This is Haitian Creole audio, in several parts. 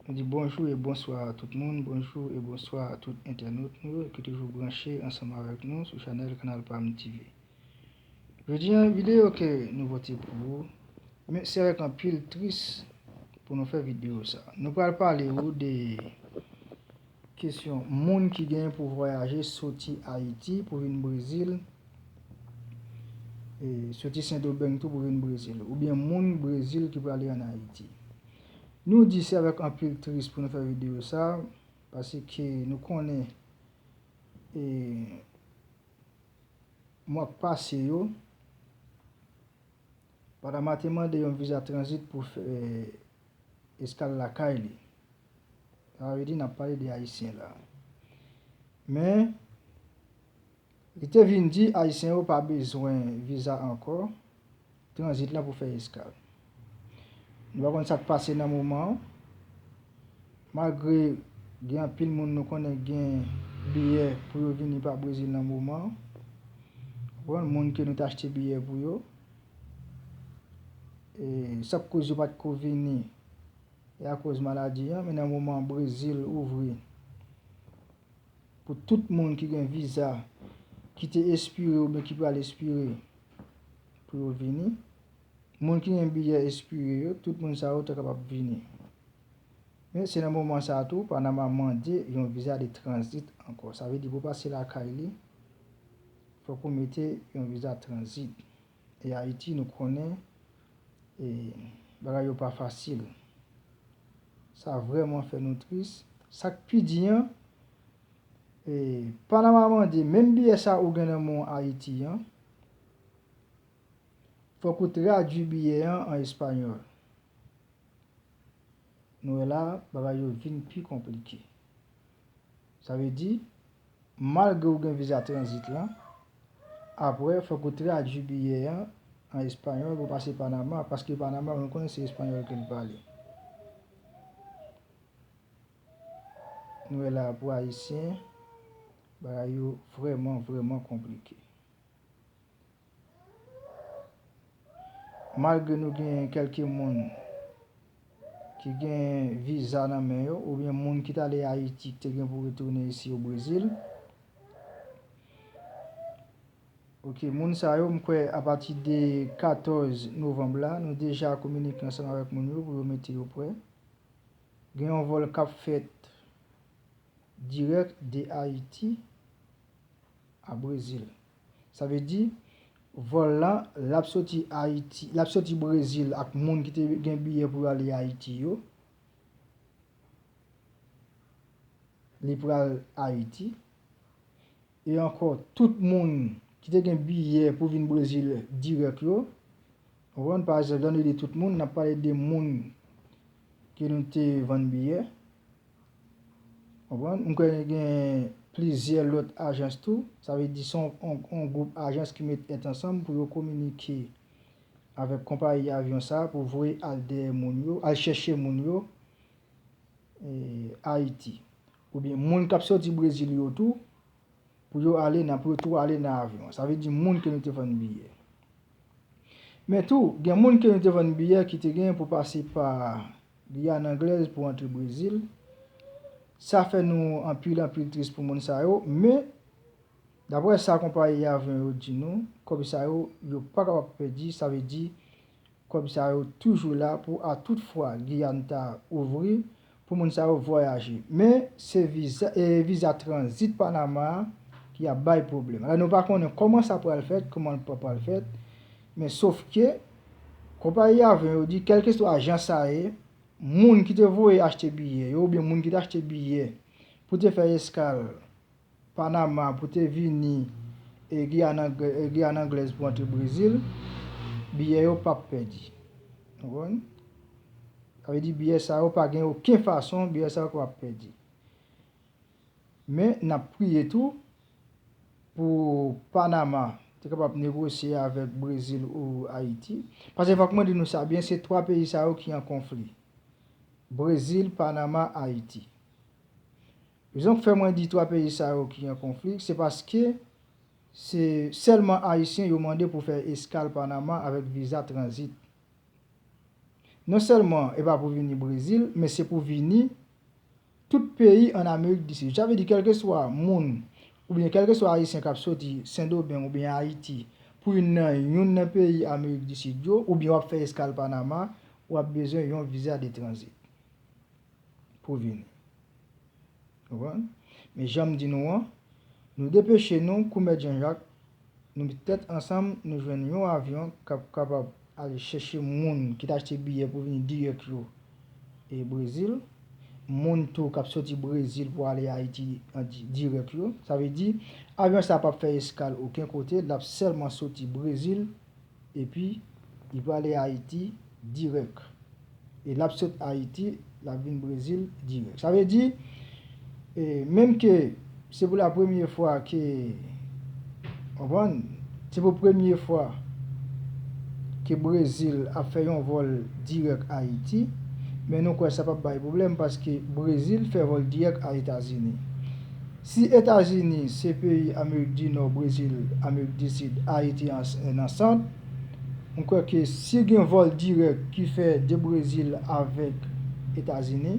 Nou di bonjou e bonswa a tout moun, bonjou e bonswa a tout entènot nou yo ki toujou branche ansanm avèk nou sou chanèl kanal pam TV. Jodi an videyo ke nou pote pou ou, men se avèk anpil tris pou nou fè videyo sa. Nou pral pale ou de Kesyon, Moun ki genyen pou vwayaje soti Ayiti pou vin Brezil, e soti Sendomeng tou pou vin Brezil, oubyen moun Brezil ki prale an Ayiti. Nou di se avèk anpil tris pou nou fè videyo sa, paseke nou konnen e mwa k pase yo, Panama te mande yon viza tranzit pou fè Eskal lakay li. Sa vle di n ap pale de Ayisyen la. Men, li te vin di Ayisyen yo pa bezwen viza ankò, tranzit la pou fè eskal. Nou pa konn sa k pase nan moman an, malgre gen anpil moun nou konnen k gen biyè pou yo vini pa Brezil nan moman an, moun ke nou te achte biyè pou yo. E sak koz yo pat ko vini e akoz maladi an men nan moman brezil ouvri pou tout moun ki gen viza ki te espire oubyen ki pral espire pou yo vini moun ki gen biyè espire yo tout moun sa yo ta kapab vini men se nan moman sa tou panama mande yon viza de tranzit ankò sa vle di pou pase lakay li Fok ou mete yon viza tranzit. E ayiti nou konnen e bagay yo pa fasil. Sa vreman fè nou tris. Sak pi di an e panama mande menm biyè sa ou gen nan men w ayiti an fok ou tradwi biyè an an español. Nou wè la bagay yo vin pi konplike. Sa vle di, malgre ou gen viza tranzit lan, apre fòk ou tradui biyè an an espanyòl pou pase Panama, paske Panama nou konnen se espanyòl ke li pale. Nou wè la pou ayisyen, bagay yo vrèman vrèman konplike. Malgre nou genyen kelke moun ki gen viza nan men yo oubyen moun ki t ale Ayiti ki te gen pou retounen isi o Brezil. Ok moun sa yo m kwè apati de 14 novanm la nou deja kominike ansanm avèk moun yo pou yo mete yo prè. Gen yon vòl k ap fèt dirèk de Ayiti a Brezil. Sa vle di, vòl la, l ap soti Ayiti, l ap soti Brezil ak moun ki te gen biyè pou yo ale Ayiti yo. Li pral Ayiti. E ankò, tout moun ki te gen biyè pou vin Brezil dirèk yo, ou konprann? Pa egzanp, lè nou di tout moun, n ap pale de moun ke nou te vann biyè. Konprann? M kwè gen plizyè lòt ajans tou. Sa vle di son yon gwoup ajans ki met tèt ansanm pou yo kominike avèk konpayi avyon sa pou voye al dèyè moun yo, al chèche moun yo Ayiti. Oubyen moun k ap soti Brezil yo tou pou yo ale nan, pou yo tou ale nan avyon an. Sa vle di moun ke nou te vann biyè. Men tou, gen moun ke nou te vann biyè ki te gen pou pase pa Guyane anglaise pou antre Brésil. Sa fè nou anpil anpil tris pou moun sa yo, men daprè sa konpayi avyon yo di nou, kòb sa yo, yo pa kapab pèdi, sa vle di kòb sa yo toujou la pou a tout fwa Guyane ta ouvri pou moun sa yo vwayaje. Men se viza viza tranzit Panama a ki ap bay pwoblèm. Alò nou pa konnen kòman sa pral fèt, kòman l pa pral fèt, men sof ke. Konpayi avyon yo di kèlkeswa jan sa ye, moun ki te voye achte biyè yo oubyen moun ki te achte biyè pou te fè eskal Panama pou te vini Giyàn Anglèz pou antre Brezil, biyè yo p ap pèdi. Nou konprann? Sa vle di biyè sa yo pa gen oken fason biyè sa yo kapab pèdi. Men nap priye tou pou Panama te kapab negosye avèk Brezil ou Ayiti. Pase fòk mwen di nou sa byen se 3 peyi sa yo ki an konfli. Brezil, Panama, Ayiti. Rezon k fè mwen di 3 peyi sa yo ki an konfli se paske se sèlman Ayisyen yo mande pou fè eskal Panama avèk viza tranzit. Non sèlman e pa pou vini Brezil men se pou vini Tout peyi an Amerik di Sid. Sa vle di kèlkeswa moun oubyen kèlkeswa Ayisyen k ap soti Sendomeng oubyen Ayiti pou youn nan youn nan peyi Amerik di Sid yo oubyen w ap fè eskal Panama, w ap bezwen yon viza de tranzit pou vini. Konprann? Men jan m di nou an, nou depeche nou kou Mèt Janjak Nou met tèt ansanm, nou jwenn yon avyon k ap kapab ale chèche moun ki t achte biyè pou vini dirèk yo Brezil, moun tou k ap soti Brezil pou ale Ayiti dirèk yo. Sa vle di, avyon sa a pap fè eskal oken kote, l ap sèlman soti Brezil. Epi li prale Ayiti dirèk. E lap sot Ayiti lap vin Brezil dirèk. Sa vle di, menm ke se pou la premye fwa ke, konprann, se pou premye fwa ke Brezil ap fè yon vòl dirèk Ayiti, men nou kwè sa pap bay pwoblèm paske Brezil fè vòl dirèk a Etazini. Si Etazini se peyi Amerik di Nò, Brezil, Amerik di Sid, Ayiti ans e nan Sant, m kwè ke si gen vòl dirèk ki fè de Brezil avèk Etazini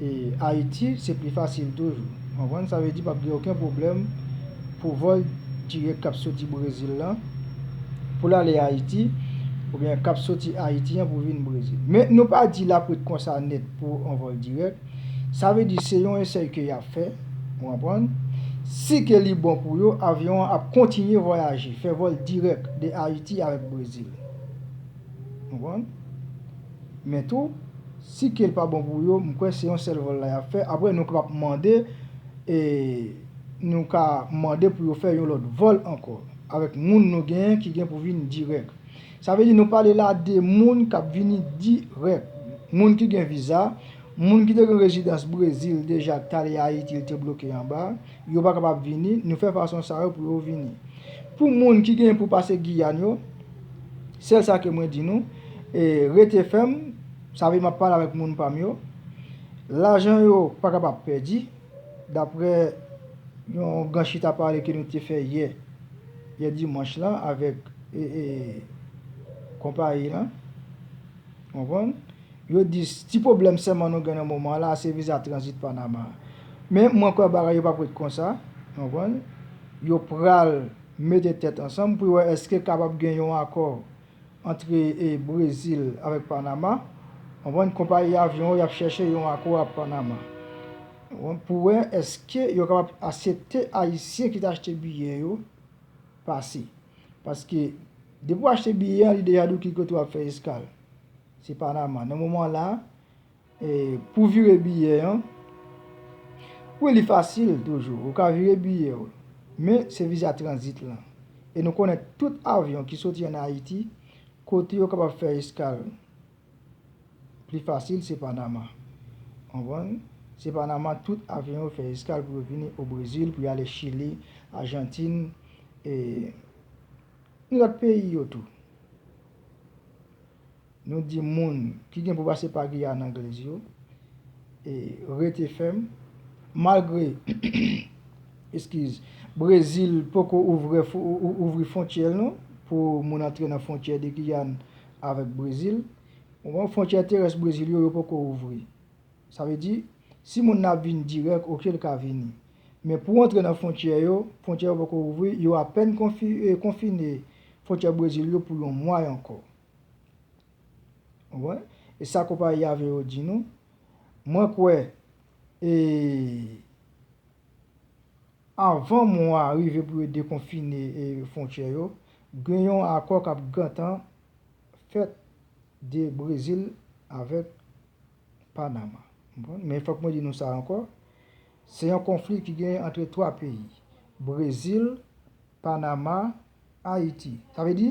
e Ayiti, se pli fasil toujou. Ou konprann? Sa vle di pap gen oken pwoblèm pou vòl dirèk kap soti Brezil lan pou l ale Ayiti oubyen kap soti Ayiti an pou vin Brezil. Men nou pa di l ap ret konsa nèt pou on vòl dirèk. Sa vle di se yon esèy ke yap fè, ou konprann. Si ke li bon pou yo, avyon an ap kontinye vwayaje, fè vòl dirèk de Ayiti avèk Brezil. Ou konprann. Men tou, si ke l pa bon pou yo, m kwè se yon sèl vòl la yap fè, aprè nou kapab mande, e nou ka mande pou yo fè yon lòt vòl ankò, avèk moun nou genyen ki gen pou vin dirèk. Sa vle di nou pale la de moun k ap vini dirèk, moun ki gen viza, moun ki te gen rezidans Brezil deja ki t ale Ayiti li te bloke anba, yo pa kapab vini, nou fè fason sa yo pou yo vini. Pou moun ki gen pou pase Giyàn yo, sèl sa ke mwen di nou, rete fèm, sa vle di m ap pale avèk moun pa m yo, lajan yo pa kapab pèdi, daprè yon gran chita pale ke nou te fè yè, yè dimanch lan avèk. konpayi lan. Konprann? Yo di, ti pwoblèm sèlman nou gen nan moman la, se viza tranzit Panama a. Men, mwen kwè bagay yo pa pou ret konsa. Konprann? Yo pral mete tèt ansanm pou yo wè èske kapab gen yon akò antre Brezil avèk Panama. Konprann? Konpayi avyon yo, y ap chèche yon akò ak Panama. Konprann? Pou wè èske yo kapab asepte Ayisyen ki te achte biyè yo pase. Paske, depi w achte biyè an, li deja di w ki kote w ap fè eskal. Se Panama. Nan moman la, pou w vire biyè an, wi li fasil toujou. Ou ka vire biyè w. Men, se viza tranzit lan. E nou konnen tout avyon ki soti an Ayiti, kote yo kapab fè eskal. Pli fasil se Panama. Konprann? Se Panama tout avyon yo fè eskal pou yo vini o Brezil, pou yo ale Chili, Ajantin, e ni lòt peyi yo tou. Nou di moun ki gen pou pase pa Giyàn Anglèz yo, e rete fèm, malgre, eskiz, Brezil poko ouvri fontyè l non, pou moun antre nan fontyè de Giyàn avèk Brezil, moman fwontyè terès Brezil yo yo poko ouvri. Sa vle di, si moun nan ap vin dirèk, oke l ka vini. Men pou antre nan fwontyè yo, fwontyè yo poko ouvri, yo apèn konfine fwontyè Brezil yo pou yon mwa ankò. Konprann? E sa konpayi avyon yo di nou, mwen kwè e Avan mou a rive pou yo dekonfine fwontyè yo, gen yon akò k ap gentan fèt de Brezil avèk Panama. Men fòk mwen di nou sa ankò, se yon konfli ki genyen antre 3 peyi, Brezil, Panama Ayiti. Sa vle di,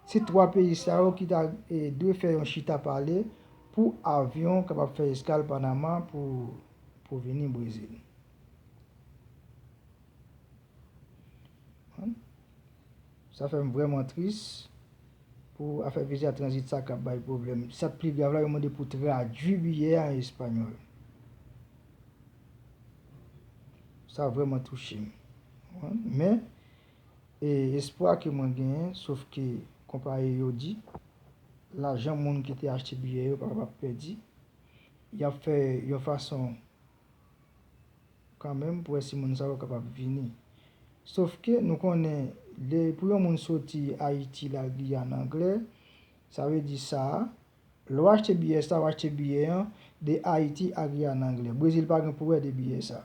se 3 peyi sa yo ki ta dwe fè yon chita pale pou avyon kapab fè eskal Panama pou vini Brezil. Sa fè m vrèman tris pou afè viza tranzit sa kap bay pwoblèm. Sa k pi grav la, yo mande pou tradui biyè a an espanyòl. Sa vrèman touche m. Men, E espwa ke mwen genyen, sof ke konpayi yo di, lajan moun ki te achte biyè yo pa kapab pèdi, y ap fè yon fason kanmenm pou wè si moun sa yo kapab vini. Sof ke nou konnen lè pou yon moun soti Ayiti l al Giyàn anglè, sa vle di sa Lè w achte biyè sa, w achte biyè an de Ayiti a ri a nan angle. Brezil pa gen pou wè de biyè sa.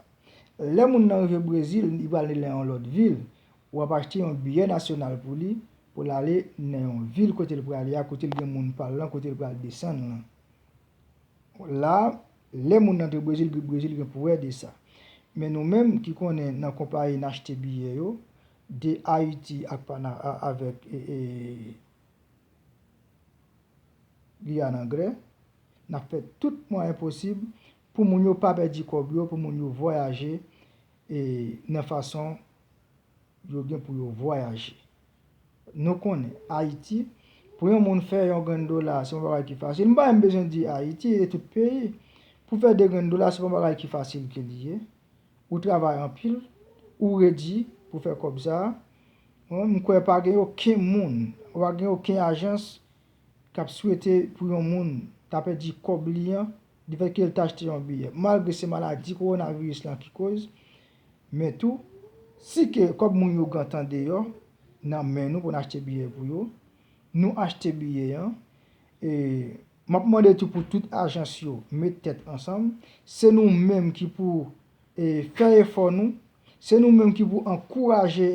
Lè moun nan rive Brezil, li pral nan yon lòt vil, w ap achte yon biyè nasyonal pou li, pou l ale nan yon vil kote l prale a, kote l gen moun pa l lan, kote l pral desann lan. La, lè moun nan antre Brezil, Brezil gen pou wè de sa. Men nou menm ki konnen nan konpayi n achte biyè yo, de Ayiti ak avèk li an anglè, n ap fè tout mwayen posib pou moun yo pa pèdi kòb yo, pou moun yo vwayaje e nan fason yo gen pou yo vwayaje. Nou konnen, Ayiti, pou yon moun fè yon grenn dola, se pa yon bagay ki fasil. M pa menm bezwen di Ayiti, e tout peyi. Pou fè 2 grenn dola, se pa yon bagay ki fasil ke li ye. ou travay anpil ou redi pou fè kòb sa bon m kwè pa gen oken moun ou pa gen oken ajans k ap swete pou yon moun ta pèdi kòb li an di fèt ke l t achte yon biyè malgre se maladi kowonaviris lan ki koz men tou si ke kòb moun yo gentan deyò nan men nou pou n achte biyè pou yo nou achte biyè an e M ap mande tou pou tout ajans yo met tèt ansanm. Se nou menm ki pou fè efò nou. Se nou menm ki pou ankouraje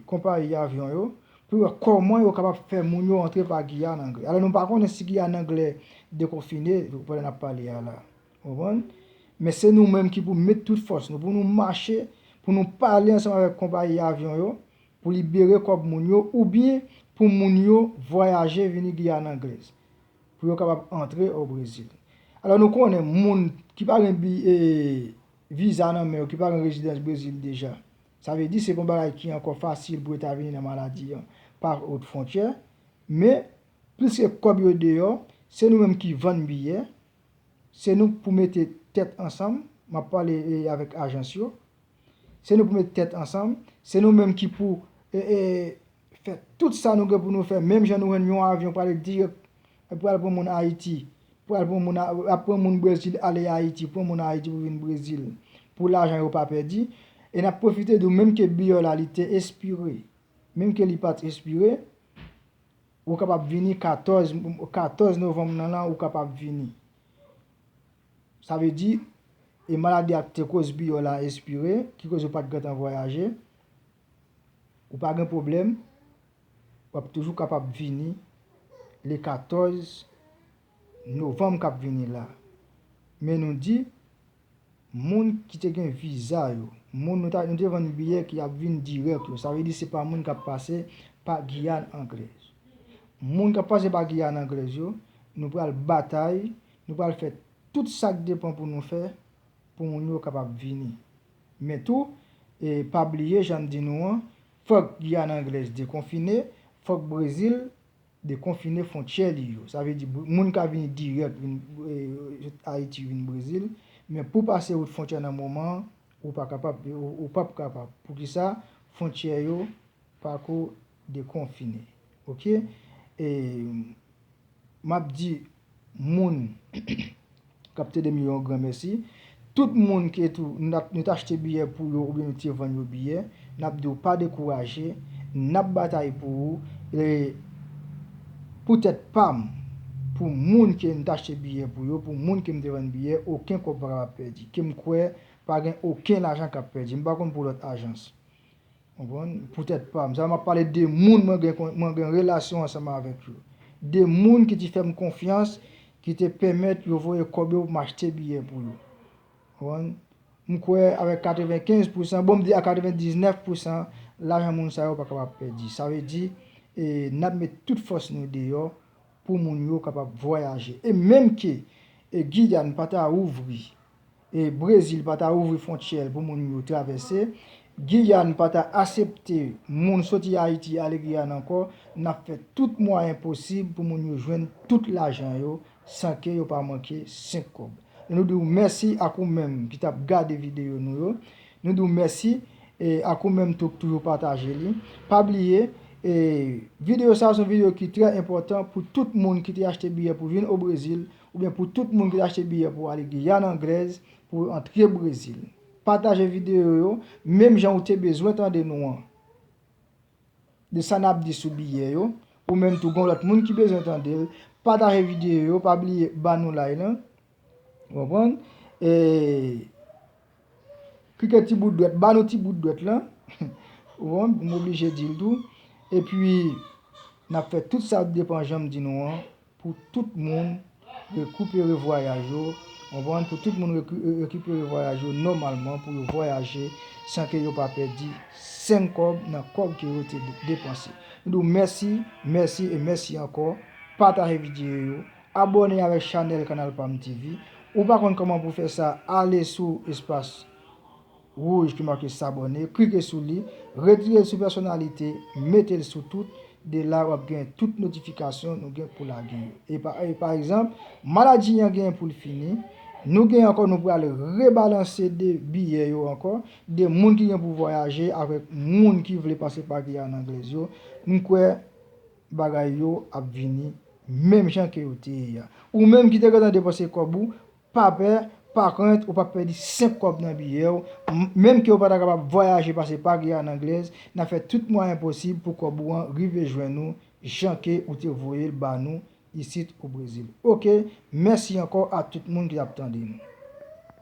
konpayi avyon yo pou wè kòman yo kapab fè moun yo antre pa Giyàn Angle. Alò nou pa konnen si Giyàn Angle dekonfine pandan n ap pale a la. Ou konprann? Men se nou menm ki pou met tout fòs nou pou nou mache, pou nou pale ansanm avèk konpayi avyon yo pou libere kòb moun yo oubyen pou moun yo vwayaje vini Guyane Anglaise pou yo kapab antre o Brezil. Alò nou konnen moun ki pa gen viza nan men yo, ki pa gen rezidans Brezil deja, sa vle di se pa yon bagay ki ankò fasil pou yo ta vini nan maladi an pa ot fwontyè, men pliske kòb yo deyò, se nou menm ki vann biyè, se nou pou mete tèt ansanm, m ap pale avèk ajans yo, Se nou pou met tèt ansanm, se nou menm ki pou fè tout sa nou gen pou nou fè menm jan nou wè yon avyon prale dirèk pral pran moun Ayiti, pral pran moun, ap pran moun Brezil ale Ayiti, pran moun Ayiti pou vin Brezil pou lajan yo pa pèdi. E n ap pwofite di w menm ke biyè w la li te espire, menm ke li pa t espire, ou kapab vini 14 novanm nan la ou kapab vini. Sa vle di, e maladi a te koz biyò la espire, ki koz ou pat gentan vwayaje, ou pa gen pwoblèm, w ap toujou kapab vini le 14 novanm k ap vini la. Men nou di, moun ki te gen viza yo, moun nou ta nou te vann biyè ki ap vin dirèk yo, sa vle di se pa moun k ap pase pa Giyàn Anglèz. Moun k ap pase pa Giyàn Anglèz yo, nou pral batay. Nou pral fè tout sa k depan pou nou fè pou moun yo kapab vini. Men tou, pa bliye jan m di nou an, fòk Giyàn Anglèz dekonfine, fòk Brezil dekonfine fwontyè li yo. Sa vle di moun ka vini dirèk vin sot Ayiti vin Brezil, men pou pase wout fwontyè nan moman an, ou pa kapab, ou pap kapab. Poukisa? Fwontyè yo pako Dekonfine ok e map di moun kap tedem yo yon gran mèsi tout moun ke tou nou t achte biyè pou yo oubyen nou te vann yo biyè nap diw pa dekouraje nap batay pou ou e pou tèt pam pou moun ke m t achte biyè pou yo pou moun kem te vann biyè oken kòb pa kapab pèdi kem kwè pa gen oken lajan kap pèdi m pa konn pou lòt ajans. Konprann? Pou tèt pa m. Sa m ap pale de moun mwen gen mwen gen relasyon ansanm avèk yo. De moun ki ti fè m konfyans, ki te penmèt yo voye kòb yo pou m achte biyè pou yo. Konprann? M kwè avèk 95 pousan, bon m di a 99 pousan, lajan moun sa yo pa kapab pèdi. Sa vle di, e n ap met tout fòs nou deyò pou moun yo kapab vwayaje. E menm ke e Giyàn pa ta ouvri Brezil pa ta ouvri fwontyè l pou moun yo travèse, Giyàn pa ta asepte moun soti Ayiti ale Giyàn ankò, n ap fè tout mwayen posib pou moun yo jwenn tout lajan yo san ke yo pa manke senk kòb. Nou di w mèsi ak ou menm ki t ap gade videyo nou yo. Nou di w mèsi ak ou menm tou k toujou pataje li. Pa bliye, videyo sa a se yon videyo ki trè enpòtan pou tout moun ki te achte biyè pou vin o Brezil Oubyen pou tout moun ki ta achte biyè pou ale Guyane Anglaise pou yo antre Brésil. Pataje video yo menm jan ou te bezwen tande nou an. De sa nap di sou biyè yo. Ou menm tou gon lòt moun ki bezwen tande l. Pataje video yo pa bliye ba nou lay lan. Ou konprann? E. Krikè ti bout dwèt, ba nou ti bout dwèt lan, ou bon, m oblije di l tou, epi n ap fè tout sa k depan jan m di nou an pou tout moun rekipere vwayaj yo, ou bon, pou tout moun rekipere vwayaj yo nòmalman pou yo vwayaje san ke yo pa pèdi senk kòb nan kòb ke yo te depanse. M di w mèsi, mèsi e mèsi ankò, pataje videyo yo, Abòne avèk chanèl kanal pam TV ou pa konn kòman pou fè sa ale sou espas wouj ki make sabòne klike sou li retirel sou pèsonalite metel sou tout de la wap gen tout notifikasyon nou gen pou lage yo epa pa egzanp maladi yan gen poul fini nou gen ankò nou pral rebalanse de biyè yo ankò de moun ki gen pou vwayaje avèk moun ki vle pase pa Guyana anglaise yo m kwè Bagay yo ap vini menm jan ke yo te ye a. Ou menm ki te gentan depanse kòb ou, pa pè, pa krent ou pap pèdi senk kòb nan biyè w, menm ke ou pa ta kapab vwayaje pase pa Guyane Anglaise, n ap fè tout mwayen posib pou kòb ou an rive jwenn ou jan ke ou te voye l ba nou isit o Brezil. Ok, mèsi ankò a tout moun ki ap tande nou.